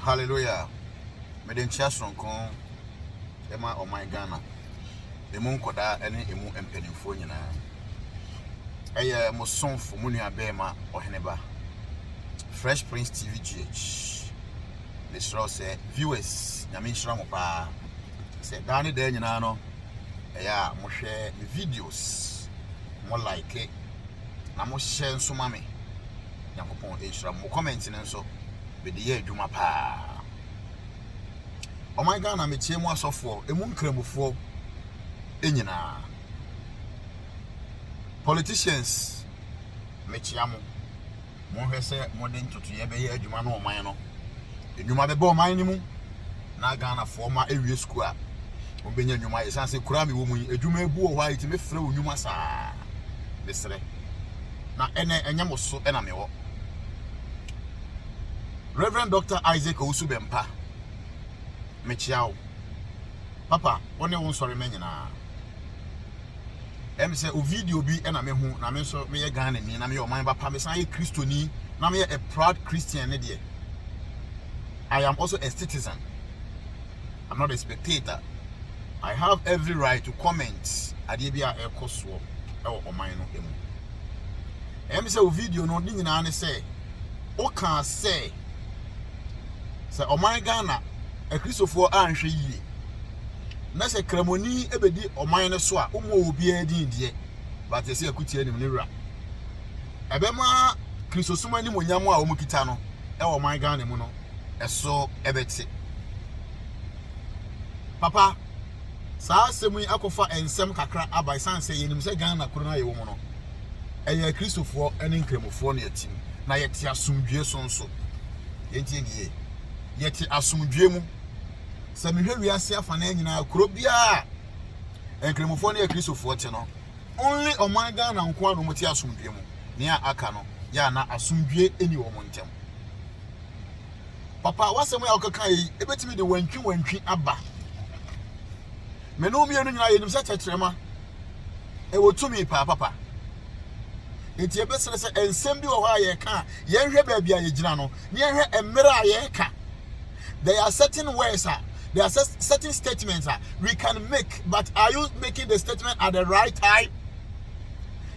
Hallelujah! Mede nkyea soronko ma ɔman Ghana, emu nkwadaa ne emu mpanimfoɔ nyinaa. Ɛyɛ mo somfo, mo nua bɛɛma Ɔheneba, Fresh Prince TV GH. Mesrɛ wo sɛ, viewers, Nyame nhyira mo paa. Sɛ daa ne daa nyinaa no, ɛyɛ a mohwɛ me videos, mo like, na mohyɛ nso ma me. Nyankopɔn ehyira mo. Mo comment no nso, mede yɛ adwuma paa. Ɔman Ghana, mekyia mu asɔfoɔ, emu nkramofoɔ nyinaa. Politicians, mekyia mo. Monhwɛ sɛ mode ntotoeɛ bɛyɛ adwuma no ɔman no. Nnwuma bɛbɔ ɔman no mu na Ghanafoɔ ma awie sukuu a wɔbɛnya nnwuma. Ɛsiane sɛ kura mewɔ mu yi, adwuma ebu wɔ hɔ a ɛtumi frɛ wo nnwuma saa. Mesrɛ. na ɛnɛ ɛnyɛ mo so na mewɔ. Rev. Dɔkta Isaac Owusu Bɛmpa, mekyea wo. Papa, wo ne wo nsɔremma nyinaa. Ɛm sɛ o video bi na mehu na me nso meyɛ Ghana ni na meyɛ ɔman ba pa mesan yɛ Kristoni na meyɛ a proud Christian ne deɛ. I am also a citizen. I'm not a spectator. I have every right to comment adeɛ bi a ɛkɔ soɔ. wɔ ɔman no mu. Ɛyɛ me sɛ wo video no ne nyinaa ne sɛ wokaa sɛ sɛ ɔman Ghana akristofoɔ anhwɛ yie na sɛ kramoni bɛdi ɔman no so a wommɔ obiara din deɛ but ɛsɛ akutia nim ne wura ɛbɛma kristosom animonyam a wɔn kita no ɛwɔ ɔman Ghana mu no ɛso ɛbɛte papa Saa asɛm yi akɔfa nsɛm kakra aba esiane sɛ yɛnim sɛ Ghana kuro no a yɛwɔ mu no, ɛyɛ Akristofoɔ ne Nkramofoɔ na ɛte mu, na yɛte asomdwoeɛ so nso. Yɛntie ne yie. Yɛte asomdwoeɛ mu. Sɛ mehwɛ wiase afanaa nyinaa, kuro biara a Nkramofoɔ ne Akristofoɔ te no, only ɔman Ghana nko ara na wɔte asomdwoeɛ mu. Nea aka no, yɛ a na asomdwoeɛ nni wɔn ntam. Papa, w'asɛm yi a wokekae yi, ebetumi de wantwiwantwi aba. Me ne wo mmienu nyinaa yɛnim sɛ tɛtrɛma ɛwɔ tumi paa papa. Enti ɛbɛsrɛ sɛ nsɛm bi wɔ hɔ a yɛreka a yɛnhwɛ baabi a yɛgyina no na yɛhwɛ mmerɛ a yɛreka. There are certain words a there are certain statements a we can make but are you making the statement at the right time?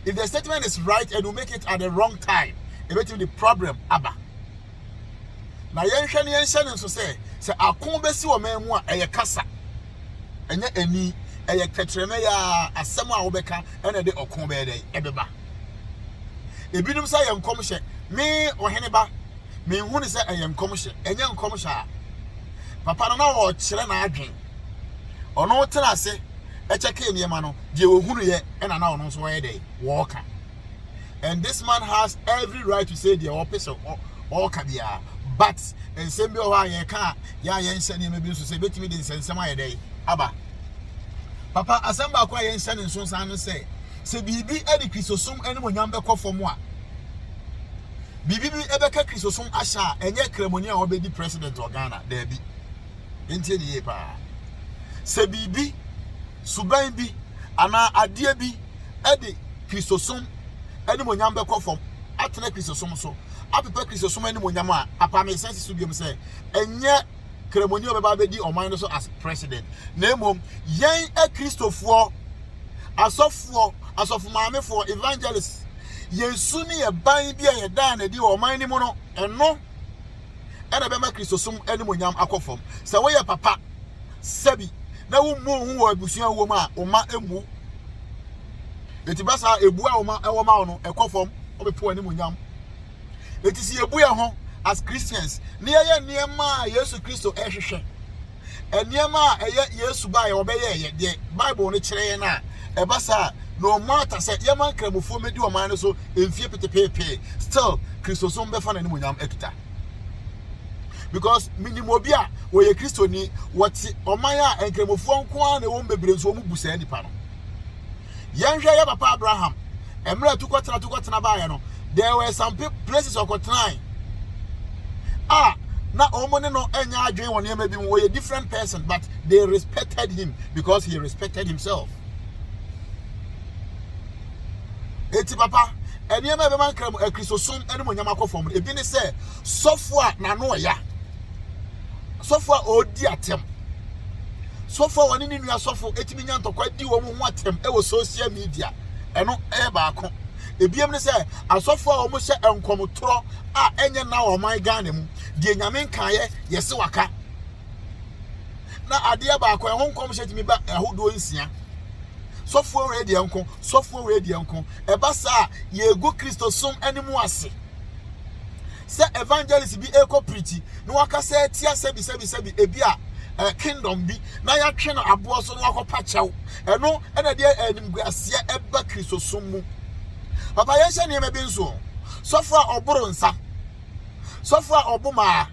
If the statement is right and you make it at the wrong time, ɛbɛtumi de problem aba. Na yɛnhwɛ na yɛnhyɛ no nso sɛ, sɛ ako bɛsi ɔman mu a, ɛyɛ kasa, ɛnyɛ ani, ɛyɛ tɛtrɛmɛ yɛ ara, asɛm a wobɛka na ɛde ɔko bɛyɛ dɛn, ɛbɛba. Ebinom sɛ ɛyɛ nkɔmhyɛ, me ɔhene ba, menhu ne sɛ ɛyɛ nkɔmhyɛ, ɛnyɛ nkɔmhyɛ a. Papa no na ɔrekyerɛ n'adwen. Ɔno tena ase kyɛkee nneɛma no, deɛ ɔhunuiɛ na na ɔno nso ɔyɛ dɛn, wɔreka. and this man has every right to say deɛ ɔpɛ sɛ ɔka biara but nsɛm bi wɔ hɔ a yɛka a yɛ a yɛnhyɛ nneɛma bi nso sɛ ebɛtumi de nsɛnsɛm ayɛ dɛ aba papa asɛm baako a yɛnhyɛ ne nso san no sɛ sɛ biribi de kristosom animonyam bɛkɔ fam a biribi bi ɛbɛka kristosom ahyɛ a ɛnyɛ kramoni a ɔbɛdi president wɔ ghana daabi ntie ne yie paa sɛ biribi suban bi anaa adeɛ bi de Kristosom animuonyam bɛkɔ fam atena Kristosom so, apepa Kristosom animuonyam a, papa mesan si so biom sɛ, ɛnyɛ Kramoni a ɔbɛba abɛdi ɔman no so as president, na mmom yɛn Akristofoɔ, asɔfoɔ, asɔfomaamefoɔ, evangelists, yɛn su ne yɛn ban bi a yɛdaa no adi wɔ ɔman no mu no, ɛno. na ɛbɛma Kristosom animuonyam akɔ fam. Sɛ woyɛ papa sɛbi na wummu wo ho wɔ abusua a wowɔ mu a, wo mma mmu wo. Enti ba saa ebu a wo mma wɔ ma wo no, ɛkɔ fam, wɔbɛpo w'animuonyam. Enti sɛ yebu yɛn ho as Christians na yɛyɛ nneɛma a Yesu Kristo hwehwɛ nneɛma a ɛyɛ Yesu bae a ɔbɛyɛe yɛ deɛ Bible no kyerɛ yɛn a, ɛba saa a, no matter sɛ yɛma Nkramofoɔ mmɛdi ɔman no so mfie petepeepee, still Kristosom bɛfa n'animuonyam akita. Because menim obi a wɔyɛ Kristoni, wɔte ɔman a Nkramofoɔ nko ara na ɛwɔ mu bebree nso wɔbu saa nipa no. Yɛnhwɛ yɛ papa Abraham. Mmerɛ a tukɔtena tukɔtena baeɛ no, there were some places ɔkɔtenae a na wɔn ne no nyɛ adwene wɔ nneɛma bi mu. Wɔyɛ different person but they respected him because he respected himself. Eti papa, nneɛma a ɛbɛma nkra mu akristosom ne mu nyama kɔ fam no, ebi ne sɛ sɔfo a n'ano ɔya. sɔfo a ɔredi atɛm. Sɔfo a ɔne ne nua sɔfo tumi nya ntɔkwa di wɔn ho atɛm wɔ social media. Ɛno yɛ baako. Ebiem ne sɛ asɔfo a wɔhyɛ nkɔmtorɔ a ɛnyɛ na wɔ ɔman Ghana mu deɛ nyame nkaeɛ yɛse waka. Na adeɛ baako ɛho nkɔmhyɛ tumi ba ahodoɔ nsia. Sɔfoɔ wei deɛ nko, sɔfoɔ wei deɛ nko. Ɛba saa a yɛgu Kristosom anim ase. Sɛ evangelist bi rekɔ preachi na wakasa atia sɛbi sɛbi sɛbi ebi a eh, kingdom bi na yɛatwe no aboɔ so na wakɔpa kyɛw. Ɛno ɛna deɛ animguaseɛ ɛba Kristosom mu. Papa yɛnhyɛ nneɛma bi nso. Sɔfo a ɔboro nsa, sɔfo a ɔbo maa,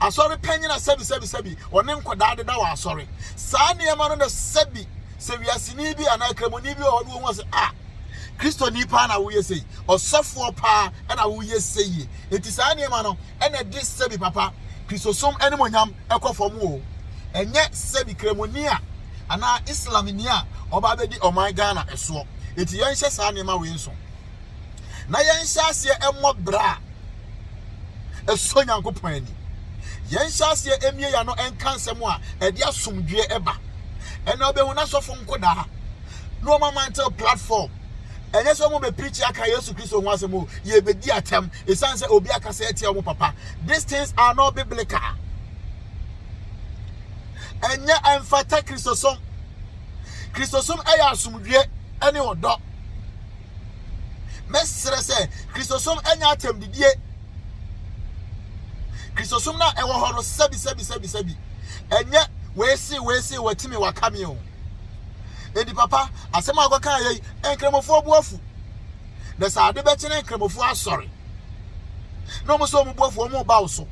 asɔre panyina sɛbi sɛbi sɛbi, ɔne nkɔdaa deda wɔ asɔre. Saa nneɛma no na sɛbi sɛ wiaseni bi anaa Kramoni bi wɔ hɔ na wɔhu sɛ, ah, Kristoni paa na woyɛ sei, ɔsɔfoɔ paa na woyɛ sei yie. Enti saa nneɛma no na ɛde sɛbi papa Kristosom animuonyam kɔ fam o. Ɛnyɛ sɛbi Kramoni a anaa Islamni a ɔba abɛdi ɔman Ghana soɔ. Enti yɛnhyɛ saa nneɛma wei nso. na yɛnhyɛ aseɛ mmɔ bra a ɛsɔ Nyankopɔn ani. Yɛnhyɛ aseɛ mmie yɛn ano nka nsɛm a ɛde asomdwoeɛ ba. Ɛnna wobɛhu n'asɔfo nkodaa na wɔn amantew platform. Ɛnyɛ sɛ wɔn bɛpirikyi aka Yesu Kristo ho asɛm o, yɛbɛdi atɛm ɛsiane sɛ obi akasa atia wɔn papa. These things are not biblical. Ɛnyɛ ɛmfata Kristosom. Kristosom yɛ asomdwoeɛ ne ɔdɔ. Mɛsrɛ sɛ Kristosom nyɛ atɛmdidie. Kristosom no a ɛwɔ hɔ no sɛbisɛbisɛbisɛbi ɛnyɛ wɔasi wɔasi wɔati me wɔaka me o. Enti papa asɛm a wɔkɔka yɛ yi nkramofoɔ bu afu. na sɛ ade bɛkye na Nkramofoɔ asɔre na wɔn sɛ wɔn boafoɔ wɔn reba wo so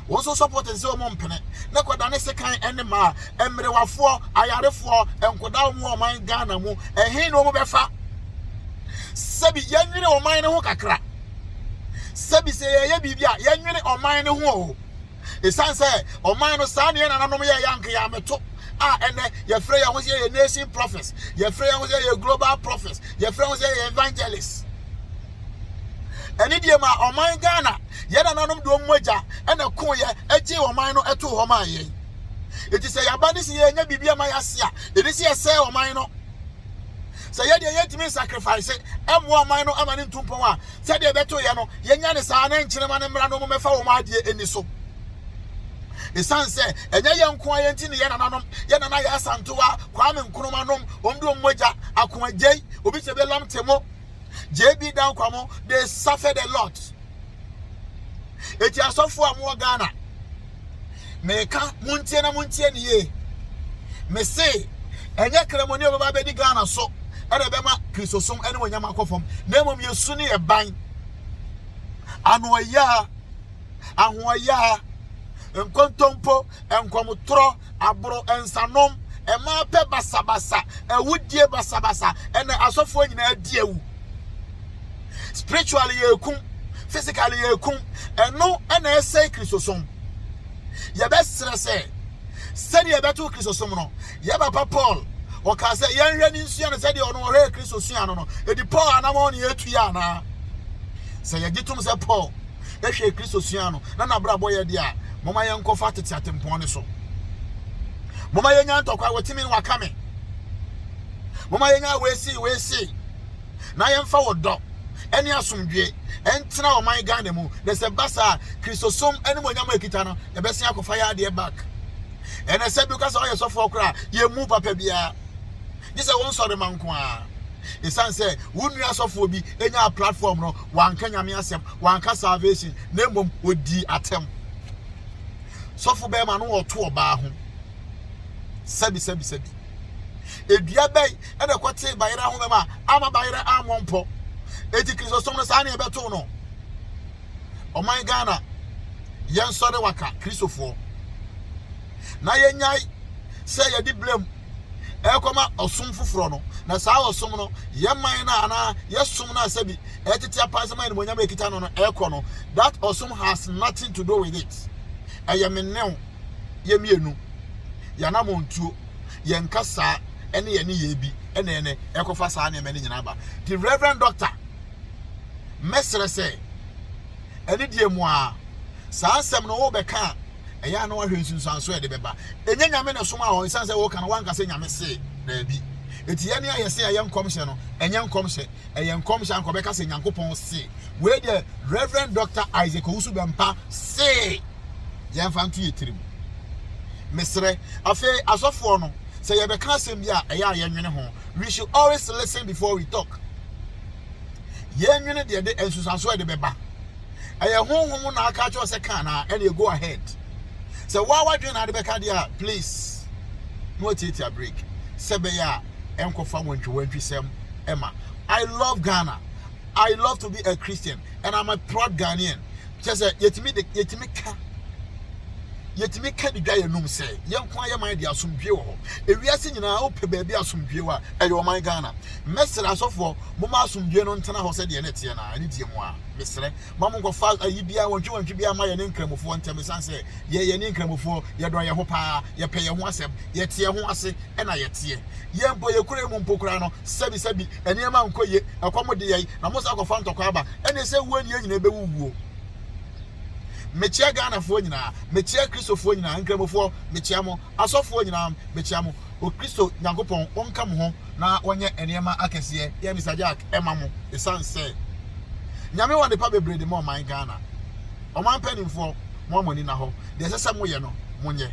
wɔn nso sɔpɔte sɛ wɔn mpene na kɔdane sekan ne mmaa mmerewafoɔ ayarefoɔ nkɔdaa wɔn wɔ ɔman Ghana mu ɛhe na wɔn bɛfa sɛbi yɛnwene ɔman no ho kakra sɛbi sɛ yɛyɛ biribi a yɛnwene ɔman no ho o Esiane sɛ ɔman no saa na yɛn nananom yɛeɛ a, anka yɛammɛto a ɛnnɛ yɛfrɛ yɛn ho sɛ yɛyɛ nation prophets, yɛfrɛ yɛn ho sɛ yɛyɛ global prophets, yɛfrɛ ho sɛ yɛyɛ evangelists. Ɛne deɛ ma ɔman Ghana, yɛn nananom de wɔn mogya ɛna ko yɛ ɛgye ɔman no ɛto hɔ maa yɛn. Eti sɛ yaba ne sɛ yɛnyɛ biribi ama yɛase a, ɛni sɛ yɛsɛe ɔman no. Sɛ yɛ deɛ yɛntumi nsacrifice mmoa ɔman no ama no ntu mpɔn a, sɛdeɛ ɛbɛto yɛ no, yɛnya no saa na nkyerema no mmra na wɔmmɛfa wɔn adeɛ nni so. Ɛsiane sɛ ɛnyɛ yɛn nko ara nti ne yɛn nananom, yɛn nana yɛ Asantewa, Kwame Nkrumah nom, wɔn de wɔn mogya, Ako Agyei, Obi Sebe Lamte mo, JB Dan Kwamo, they suffered a lot. Eti asɔfo a mo Ghana, meka muntie na muntie ne yie. Me se, ɛnyɛ kremoni ɔbɛba abɛdi Ghana so ɛna ɛbɛma kristosom ɛne wɔnyama akɔ fam na mmom yɛsu ne yɛ ban ano ɔyaa ahoɔyaa, nkontompo, nkɔmtorɔ, aboro, nsanom, mmaa pɛ basabasa, awudie basabasa, ɛna asɔfoɔ nyinaa di awu. Spiritually yɛkum, physically yɛkum, ɛno ɛna ɛsɛe Kristosom. Yɛbɛsrɛ sɛ sɛdeɛ yɛbɛto Kristosom no, Yɛn papa Paul, ɔkaa sɛ, Yɛnhwɛ ne nsua no sɛdeɛ ɔno ɔhwɛɛ Kristo suaa no no. Ɛdi Paul anamɔn ne yɛretu yi anaa? Sɛ yɛgye tom sɛ Paul hwɛɛ Kristo suaa no na n'abrabɔ yɛ deɛ a, momma yɛnkɔfa tete atempɔn no so. Momma yɛnya ntɔkwa, wɔtumi ne waka me. Momma yɛnya weesei weesei na yɛmfa wɔ dɔ ɛne asomdwie ɛntena ɔman Ghana mu na sɛ ba saa Kristosom animonyam a ɛkita no ɛbɛsen akɔfa yɛ adeɛ back. Ɛna sɛ bi ka sɛ ɔyɛ sɔfoɔ koraa yɛ mu papa biara gye sɛ wɔn sɔre ma nko ara ɛsiane sɛ wo nua sɔfoɔ bi ɛnya platform no wanka nyame asɛm wanka salvation na mmom ɔdii atɛm sɔfo bɛrima no wɔto ɔbaa ho sɛbi sɛbi sɛbi edua bɛn ɛna ɛkɔte bayerɛ ho bɛma ama bayerɛ ammɔ mpɔ eti kristosom no saa ne ɛbɛto no ɔman Ghana yɛnsɔre waka Kristofoɔ na yɛnyae sɛ yɛde blame ɛrekɔma ɔsom foforɔ no na saa ɔsom no yɛ man no anaa yɛsom no asɛ bi ɛtete apa sɛ ma animonyam ɛkita no no ɛrekɔ no that ɔsom has nothing to do with it ɛyɛ me new yɛ mmienu yɛnamɔ ntuo yɛnka saa ɛne yɛne yɛ bi ɛne ɛne ɛkɔfa saa nneɛma no nyinaa ba the reverend doctor Mɛsrɛ sɛ, anidie mu ara, saa nsɛm no worebɛka a, ɛyɛ a na woahwɛ nsunsuansoɔ a ɛde bɛba. Ɛnyɛ Nyame na ɛsomaa wo, ɛsiane sɛ woreka no, woanka sɛ Nyame se, daabi. Enti yɛn a yɛse ɛyɛ nkɔmhyɛ no, ɛnyɛ nkɔmhyɛ, ɛyɛ nkɔmhyɛ a anka ɔbɛka sɛ Nyankopɔn se. Wei deɛ Rev. Dɔkta Isaac Owusu-Bɛmpa se. Yɛmfa nto yɛn tirim. Mesrɛ. Afei asɔfoɔ no, sɛ yɛbɛka asɛm bi a, ɛyɛ a yɛnwene ho. we should always listen before we talk. Yɛn nwene deɛ de nsusuanso ɛde bɛba. Ɛyɛ honhom na aka akyerɛ sɛ kan na ɛne go ahead. Sɛ waa wadwene na ade bɛka deɛ a please na watiatia break sɛ bɛyɛ a ɛnkɔfa wantwi wantwi sɛm ɛma. I love Ghana. I love to be a Christian and I'm a proud Ghanaian. kyerɛ sɛ yɛtumi de yɛtumi ka yɛtumi ka de dwa yɛn num sɛ yɛn nko ayɛ man de asomdwie wɔ hɔ ewiase nyinaa wopɛ baabi asomdwie wɔ a ɛyɛ ɔman ghana mɛsrɛ asɔfoɔ moma asomdwie no ntena hɔ sɛdeɛ ne teɛ na ne deɛ mu a mesrɛ ma mo nkɔfa ayi biara wɔntwe wɔntwe biara ma yɛne nkramofoɔ ntɛm san sɛ yɛyɛ ne nkramofoɔ yɛdɔ yɛn ho paa yɛpɛ yɛn ho asɛm yɛteɛ ho ase ɛna yɛteɛ Yɛn mpo, yɛn kurow yi mu mpo koraa no, sɛbisɛbi, nneɛma nkɔ yie, ɛkɔm de yɛn, na mosan kɔfa ntɔkwa aba. Ɛnde sɛ wuo ni, yɛn nyinaa bɛwuwu o. Mekyea Ghanafoɔ nyinaa, mekyea Kristofoɔ nyinaa, Nkramofoɔ, mekyea mo, asɔfoɔ nyinaa, mekyea mo. Okristo Nyankopɔn ɔnka mo ho na ɔnyɛ nneɛma akɛseɛ, yɛn Mister Jack, ɛma mo, ɛsiane sɛ Nyame wɔ adepa bebree de ma ɔman Ghana. Ɔman mpaninfoɔ, mo a mo ani nna hɔ, deɛ ɛsɛ sɛ moyɛ no, monyɛ.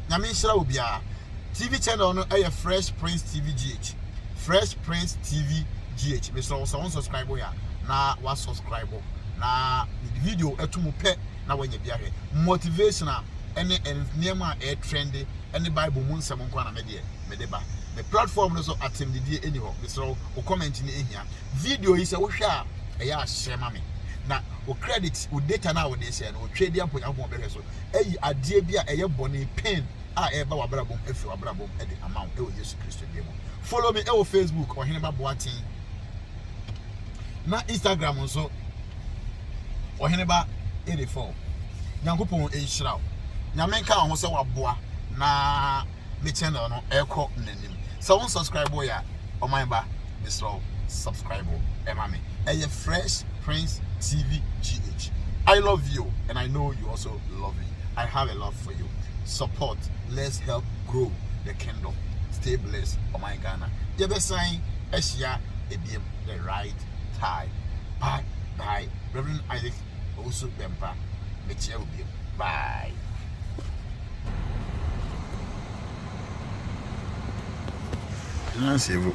Nyame nhyira obiara. TV channel no ɛyɛ Fresh Prince TV GH. Fresh Prince TV GH. Mesrɛ wo sɛ wɔn subscribe yɛ a na wa subscribe na mede video ɛto mu pɛ na wɔnyɛ bi ahwɛ. Motivational ɛne nneɛma a ɛyɛ trendy ɛne Bible mu nsɛm nko na medeɛ mede ba. Me platform no so atɛmdidie ɛni hɔ. Mesrɛ wo, wo comment ne ɛhia. Video yi sɛ wohwɛ a ɛyɛ ahyɛ ma me. Na wo credit, wo data no a wɔde hyɛ no, wɔtwa bi ampo Nyankopɔn bɛhwɛ so. Ɛyi adeɛ bi a ɛyɛ bɔne pain a ɛreba w'abrabɔ mu afiri w'abrabɔ mu de ama wo wɔ Yesu Kristo din mu. Follow me wɔ Facebook Ɔheneba Boateng na Instagram nso Ɔheneba Edefo. Nyankopɔn nhyira wo. Nyame nka wo ho sɛ waboa na me channel no ɛkɔ n'anim. Sɛ wo subscribe wo ya ɔman ba mesrɛ wo subscribe wo ɛma me. Ɛyɛ Fresh Prince TV GH. I love you and I know you also love me. I have a love for oil support let's help grow the kingdom stay blessed ɔman Ghana yɛ bɛ san ahyia ebiem the right time bye bye Reverend Isaac Owusu Bɛmpa me kyia wo biem bye. Nancy Vu.